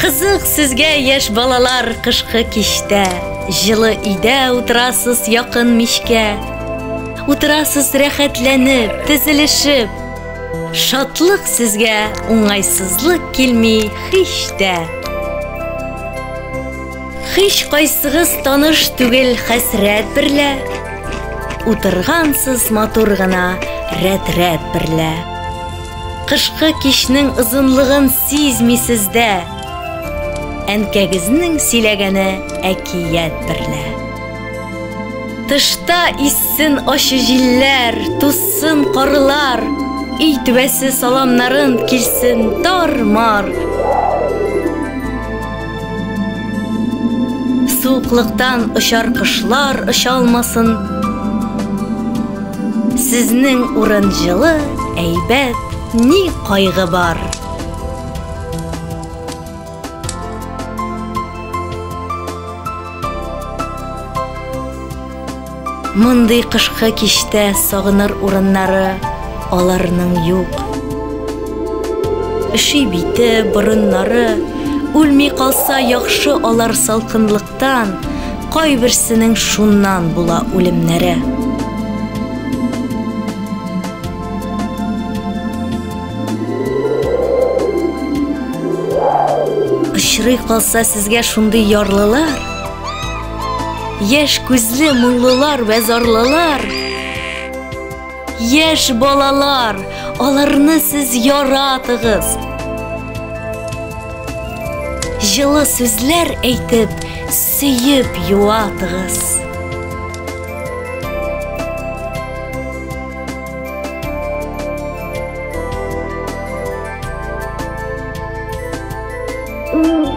Кызык сезгә, яшь балалар, кышкы кичтә. Җылы өйдә утырасыз якын мичкә. Утырасыз рәхәтләнеп, тезелешеп. Шатлык сезгә, уңайсызлык килми һич тә. Һич кайсыгыз таныш түгел хәсрәт берлә. Утыргансыз матур гына рәт-рәт берлә. Кышкы кичнең озынлыгын сизмисез дә. Әнкәгезнең сөйләгәне әкият берлә. Тышта иссен ачы җилләр, туссын карлар, өй түбәсе саламнарын килсен тар-мар. Суыклыктан очар кошлар оча алмасын. Сезнең урын җылы, әйбәт, ни кайгы бар? Мондый кышкы киштә сагыныр урыннары аларның юк. Өши бите, борыннары, үлми калса яхшы алар салкынлык Тан, кайберсенең шуннан була үлемнәре. Очрый калса сезгә шундый ярлылар, яшь күзле моңлылар вә зарлылар, Яшь балалар, аларны сез яратыгыз. Җылы сүзләр әйтеп, сөеп юатыгыз. Mm-hmm.